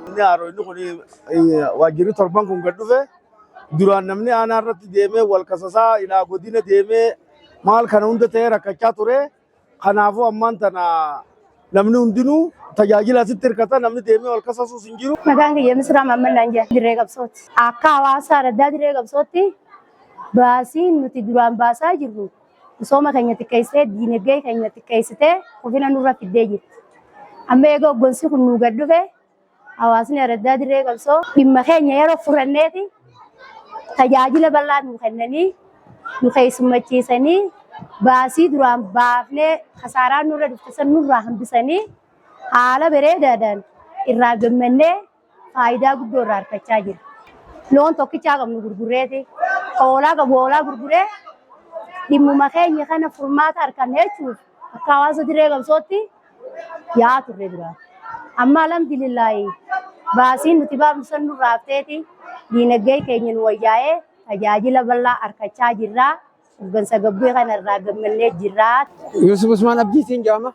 Inni haaroo inni kun eh, waajjirri torban kun gad dhufe duraan namni aanaa irratti deemee wal kasasaa ilaa godina deemee maal kana hunda ta'ee rakkachaa ture. Kanaafuu ammaan tana namni hundinuu tajaajila asitti hirkata namni deemee wal kasasuus hin jiru. Maqaan kiyya Misraa Maamman Laanjaa dirree qabsooti. Akka hawaasaa raddaa dirree qabsootti baasiin nuti duraan baasaa jirru misooma keenya xiqqeessee diinagdee keenya xiqqeessitee kufina nurra fiddee jirti. Amma eega hoggansi kun nuu gad dhufe Hawaasni araddaa dirree qabsoo dhimma keenya yeroo furanneeti tajaajila bal'aa nu kennanii nu keessummachiisanii baasii duraan baafnee kasaaraa nurra dhufte san nurraa hambisanii haala bareedaadhaan irraa gammannee faayidaa guddoo irraa argachaa jira. Loon tokkichaa qabnu gurgureeti. Hoolaa qabu hoolaa gurguree dhimmuma keenya kana furmaata arganne jechuudha. Akka hawaasa dirree qabsootti yaa'aa turre dura. Amma alhamdulillaahi baasiin nuti baafnu san nurraa hafteeti diinagdee keenya nu wayyaa'ee tajaajila bal'aa argachaa jirra. Hoggansa gabbee kana irraa gammannee jirra. Yuusuf Usmaan Abdiitiin jedhama.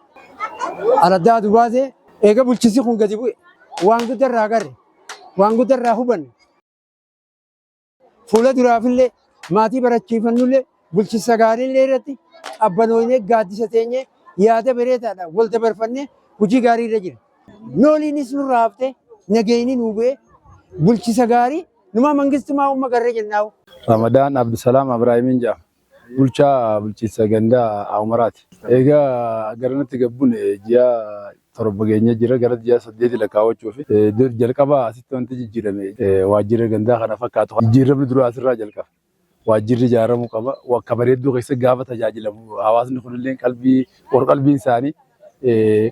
Araddaa Dubaatee eega bulchiinsi kun gadi bu'e waan guddaa irraa agarre waan guddaa irraa hubanne. Fuula duraafillee maatii barachiifannullee bulchinsa gaariillee irratti qabbanoofnee gaaddisa teenyee yaada bareedaadhaan wal dabarfannee hojii gaarii irra jira. Nooliinis nurraa haftee nageenyi nuu bu'ee bulchinsa gaarii numaa mangistumaa umma garree jennaawu. Ramadaan Abdusalaam Abraahimiin jedhama. Bulchaa bulchiinsa ganda Aawumaraati. Eega garanatti gad bune ji'a torba geenyee jirra. Gara ji'a saddeeti lakkaawwachuufi. Dur jalqaba asitti wanti jijjiirame waajjira gandaa kana fakkaatu kana. Jijjiiramni duraa asirraa jalqaba. Waajjirri ijaaramuu qaba. Akka bareedduu keessa gaafa tajaajilamu hawaasni kunillee qalbii qorqalbiin isaanii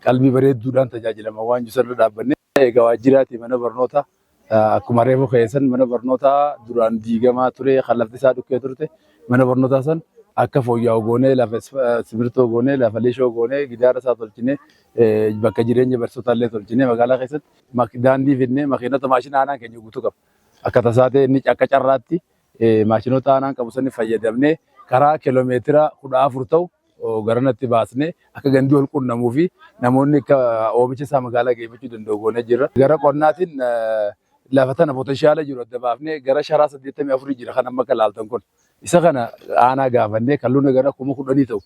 qalbii bareedduudhaan tajaajilama waan jiru sanarra dhaabbannee eega waajjiraati mana barnootaa Akkuma reefu keessan mana barnootaa duraan diigamaa ture kan lafti isaa dhukkee turte mana barnootaa san akka fooyya'u goonee lafa simirtoo goonee lafa lishoo goonee gidaara isaa tolchinee bakka jireenya barsiisotaa illee tolchinee magaalaa keessatti daandii fidnee makiinota maashina aanaan keenya guutuu qaba. Akka tasaa ta'e inni akka carraatti Maashinoota aanaan qabu sani fayyadamnee karaa kilomeetira 14 ta'u garanatti baasnee akka gandi wal qunnamuu fi namoonni akka oomisha isaa magaalaa geeffachuu danda'u goonee jirra. Gara qonnaatiin lafa tana potenshaala jiru adda baafnee gara sharaa 84 jira kan amma akka ilaaltan kun. Isa kana aanaa gaafannee kalluuna gara kuma kudhanii ta'u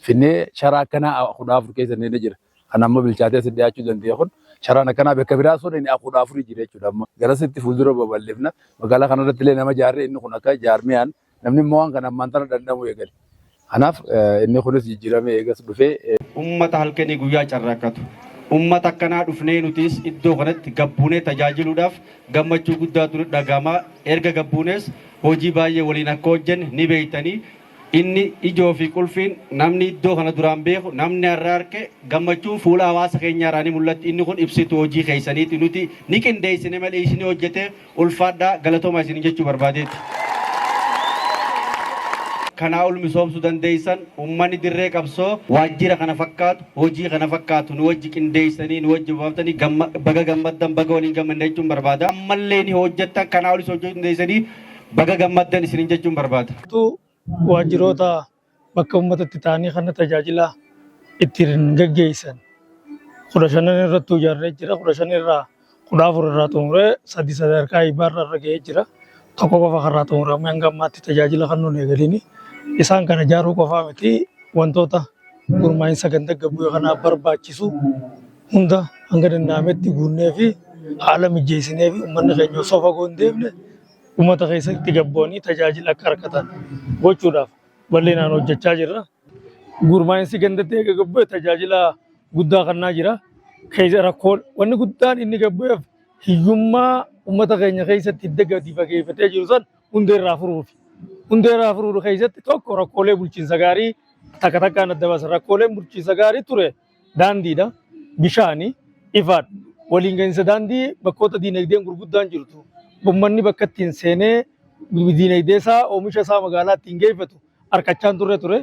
finnee sharaa akkanaa 14 keessa neenee jira. kan amma bilchaatee si dhiyaachuu danda'e kun carraan akkanaa bakka biraa sun inni kudha afurii jira jechuudha. Amma garasitti fuuldura babal'ifna magaalaa kanarratti illee nama jaarree inni kun akka jaarmiyaan namni immoo waan kana ammaan tana danda'amuu eegale. Kanaaf inni kunis jijjiiramee eegas dhufee. Uummata halkanii guyyaa carraaqqatu. Uummata akkanaa dhufnee nutis iddoo kanatti gabbuunee tajaajiluudhaaf gammachuu guddaatu nu dhaga'ama. Erga gabbuunees hojii baay'ee waliin akka hojjenne ni beektanii Inni ijoo fi qulfiin namni iddoo kana duraan beeku, namni har'a arke, gammachuun fuula hawaasa keenyaa irraa ni mul'atti. Inni kun ibsituu hojii keessaniiti. Nuti ni qindeessine malee isinii hojjete. Ulfaadhaa, galatoomaa isiniin jechuu barbaadeeti. Kanaa ol misoomsuu dandeessan. Uummanni dirree qabsoo waajjira kana fakkaatu, hojii kana fakkaatu nu wajji qindeessanii, nu wajji bobaaftanii gamma baga gammaddan, baga waliin gammanne jechuun barbaada. Ammallee ni hojjettan, kanaa olis hojjechuu dandeessanii. baga gammaddan isinin jechuun barbaada. Keessattuu waajjiroota bakka uummata itti taa'anii kana tajaajila ittiin gaggeessan kudha shanan irrattuu ijaarree jira. Kudha shan irraa kudha afur irraa xumuree sadii sadarkaa eebbaa irra irra ga'ee jira. Tokko qofa kanarraa xumuramee hanga ammaatti tajaajila kan nuun eegalini. Isaan kana ijaaruu qofaa miti wantoota gurmaa'insa ganda gabbuu kanaaf barbaachisu hunda hanga danda'ametti guunnee fi haala mijeessinee fi uummanni keenya osoo fagoo hin deemne uummata keessatti gad bu'anii tajaajila akka argatan gochuudhaaf bal'inaan hojjechaa jirra. Gurmaa'insi gandatti eega gad bu'e tajaajila guddaa kennaa jira. Keessa rakkoo wanni guddaan inni gad bu'eef hiyyummaa uummata keenya keessatti hidda gadi fageeffatee jiru san hundee irraa furuufi. Hundee irraa furuudhu keessatti tokko rakkoolee bulchiinsa gaarii takka takkaan adda baasa. Rakkooleen bulchiinsa gaarii ture daandiidha, bishaani, ifaadha. Waliin gahinsa daandii bakkoota diinagdeen gurguddaan jirtu ummanni bakka ittiin seenee diinagdee isaa oomisha isaa magaalaa ittiin geeffatu harkachaan turre ture.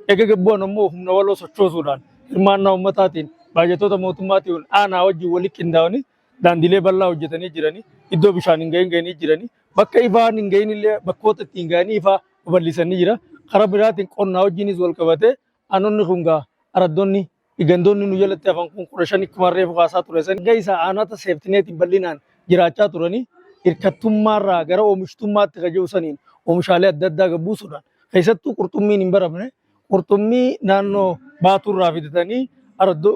Eega gabbu'an immoo humna waloo sochoosuudhaan hirmaannaa ummataatiin baajatoota mootummaatiin aanaa wajjin walitti qindaa'anii daandiilee bal'aa hojjetanii jiranii iddoo bishaan hin gahin gahanii jiranii bakka ifaan hin gahin illee bakkoota ittiin gahanii ifaa babal'isanii jira. Karaa biraatiin qonnaa wajjinis wal qabatee Aanonni kun gaa araddonni gandoonni nu jalatti hafan kun kudha shan akkuma reefu kaasaa ture san gahee isaa aanota seeftineetiin bal'inaan jiraachaa turanii hirkattummaarraa gara oomishtummaatti kan jiru saniin oomishaalee adda addaa gabbuusuudhaan keessattuu qurxummiin hin baramne qurxummii naannoo baatuurraa fidatanii araddoo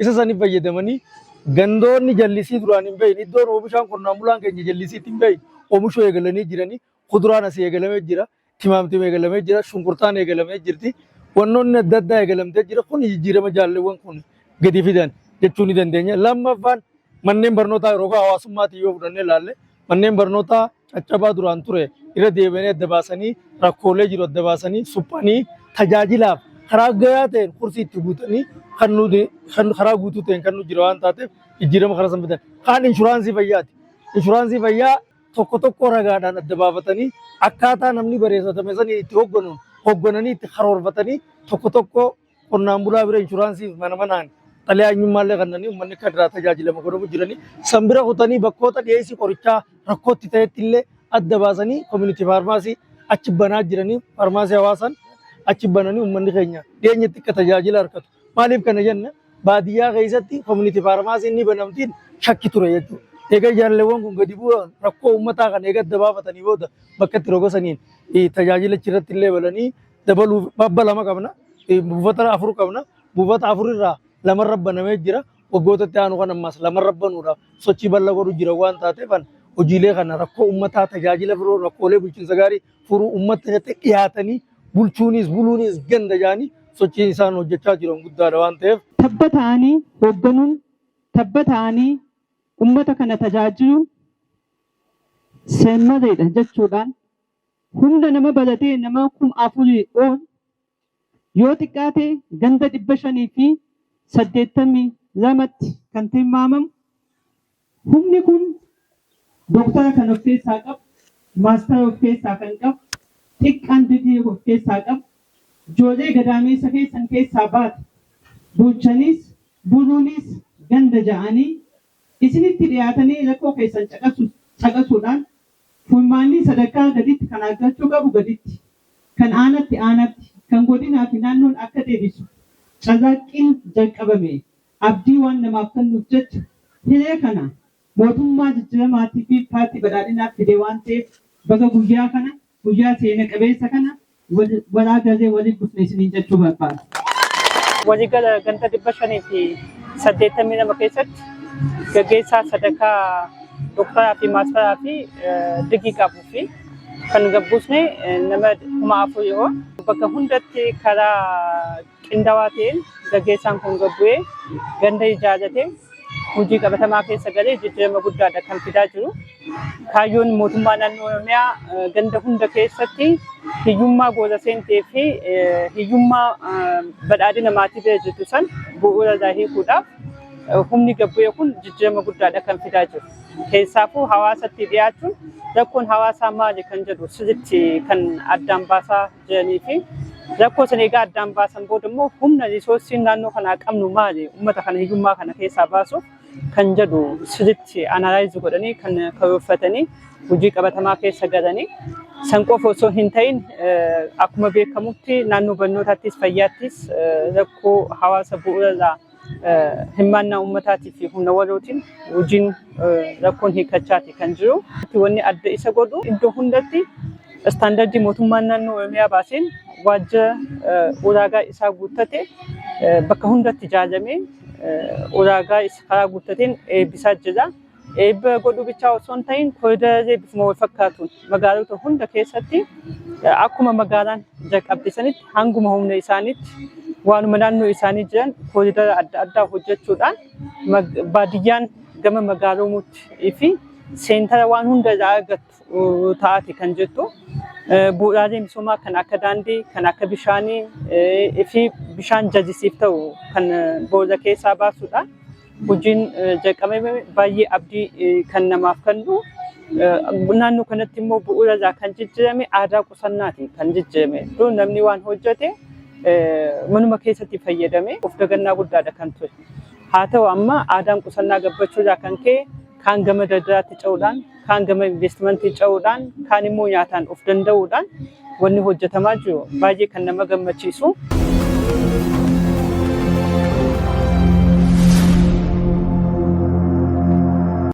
Isa saniif fayyadamanii gandoonni jallisii duraan hin bahin iddoon oomishaan qonnaan bulaan keenya jallisiitti hin bahin oomishuu eegalanii jiranii kuduraan asii eegalamee jira timaamtima eegalamee jira shunkurtaan eegalamee jirti wannoonni adda addaa eegalamtee jira kun jijjiirama jaalleewwan kun gadi fidan jechuu ni dandeenya lammaffaan manneen barnootaa yeroo hawaasummaatiin yoo fudhannee ilaalle Manneen barnootaa caccabaa duraan ture irra deebi'anii adda baasanii rakkoolee jiru adda baasanii suphanii tajaajilaaf karaa gayaa ta'een kursii itti guutanii kan nuti kan karaa guutuu ta'een kan nu jira waan taateef jijjiirama karaa san bitan. Kaan inshuraansii fayyaati. Inshuraansii fayyaa tokko tokko ragaadhaan adda baafatanii akkaataa namni bareessatame sanii itti hogganu hoggananii itti karoorfatanii tokko tokko qonnaan bulaa bira inshuraansiif mana manaan xalayaa eenyummaallee kannanii uummanni akka irraa tajaajilamu godhamu jiranii san bira kutanii bakkoota dhiyeessii qorichaa rakkootti ta'etti illee adda baasanii koominitii faarmaasii achi banaa jiranii faarmaasii hawaasaan achi bananii uummanni keenya dhiyeenyatti akka tajaajila argatu. Maaliif kana jenna baadiyyaa keessatti koominitii faarmaasiin ni banamtiin shakki ture jechuudha. Egaa jaalleewwan kun gadi bu'uudhaan rakkoo uummataa kana eega adda baafatanii booda bakka itti roga saniin tajaajila achirratti illee balanii dabaluuf babba lama qabna eh, buufata afur qabna buufata afur irraa lama rabbanamee jira waggoota itti aanu kan ammaas lama rabbanuudhaaf sochii bal'aa godhu jira waan taateef an hojiilee kana rakkoo ummataa tajaajila biroo rakkoolee bulchiinsa gaarii furuu ummata irratti dhiyaatanii bulchuunis buluunis ganda jaanii sochiin isaan hojjechaa jiran guddaadha waan ta'eef tabba ta'anii hoogganuun tabba ta'anii ummata kana tajaajiluun seemmadeedha jechuudhaan Humna nama balatee namaa kuma afurii ol yoo xiqqaate ganda 582tti kan tilmaamamu humni kun Doktora kan of keessaa qabu, Maastara of keessaa kan qabu, xiqqaan digrii of keessaa qabu, joolee gadaameessa keessan keessaa baate bulchaniis buluuniis ganda ja'anii isinitti dhiyaatanii rakkoo keessan caqasu caqasuudhaan furmaannii sadarkaa gaditti kan argachuu qabu gaditti, kan aanatti aanatti, kan godinaa fi naannoon akka deebisu carraaqqiin jalqabame abdii waan namaaf kennuuf jecha hiree kana mootummaa jijjiramaatii fi paartii badhaadhinaaf fide waan ta'eef baga guyyaa kana Guyyaa seena qabeessa kana walaa galee waliif dhufne isiniin jechuu barbaada. Waligala ganda 582 keessatti gaggeessaa sadarkaa dooktaraa fi maastaraa fi digii qabuu fi kan gabbuusne nama kuma afur yoo bakka hundatti karaa qindawaa ta'een gaggeessaan kun gad bu'ee ganda ijaarratee hojii qabatamaa keessa galee jijjiirama guddaadha kan fidaa jiru. Kaayyoon mootummaa naannoo Oromiyaa ganda hunda keessatti hiyyummaa goola seentee fi hiyyummaa badhaadhina maatii bira jirtu san bu'uura irraa hiikuudhaaf humni gad bu'ee kun jijjiirama guddaadha kan fidaa jiru. Keessaafuu hawaasatti dhiyaachuun rakkoon hawaasaa maali kan jedhu sirriitti kan addaan baasaa jiranii fi rakkoo sana egaa addaan baasan booda immoo humna risoorsiin naannoo kanaa qabnu maali uummata kana hiyyummaa kana keessaa baasuuf kan jedhu sirriitti anaalaayizi godhanii kan karoorfatanii hojii qabatamaa keessa galanii san qofa osoo hin ta'in akkuma beekamutti naannoo barnootaattis fayyaattis rakkoo hawaasa bu'uurarraa hirmaannaa uummataatii fi humna walootiin hojiin rakkoon hiikachaati kan jiru. Wanni adda isa godhu iddoo hundatti istaandardii mootummaan naannoo Oromiyaa baaseen waajjira ulaagaa isaa guuttate bakka hundatti ijaaramee ulaagaa karaa guuttateen eebbisaa jira. Eebba godhuu bichaa osoo hin ta'in koriidarallee bifuma wal fakkaatuun magaalota hunda keessatti akkuma magaalaan jalqabde sanitti hanguma humna isaaniitti waanuma naannoo isaanii jiran koriidara adda addaa hojjechuudhaan baadiyyaan gama magaaloomuutti fi seentara waan hunda irraa argattu taati kan jettu bu'uuraalee misoomaa kan akka daandii, kan akka bishaanii fi bishaan jajisiif ta'u kan booda keessaa baasuudha. Hojiin jalqabame baay'ee abdii kan namaaf kennu. Naannoo kanatti immoo bu'uura irraa kan jijjiirame aadaa qusannaati kan jijjiirame. Dur namni waan hojjete manuma keessatti fayyadame of dagannaa guddaadha kan ture. Haa ta'u amma aadaan qusannaa gabbachuu irraa kan ka'e kaan gama daldalaatti ce'uudhaan kaan gama investimantii ce'uudhaan kaan immoo nyaataan of danda'uudhaan wanni hojjetamaa jiru baay'ee kan nama gammachiisu.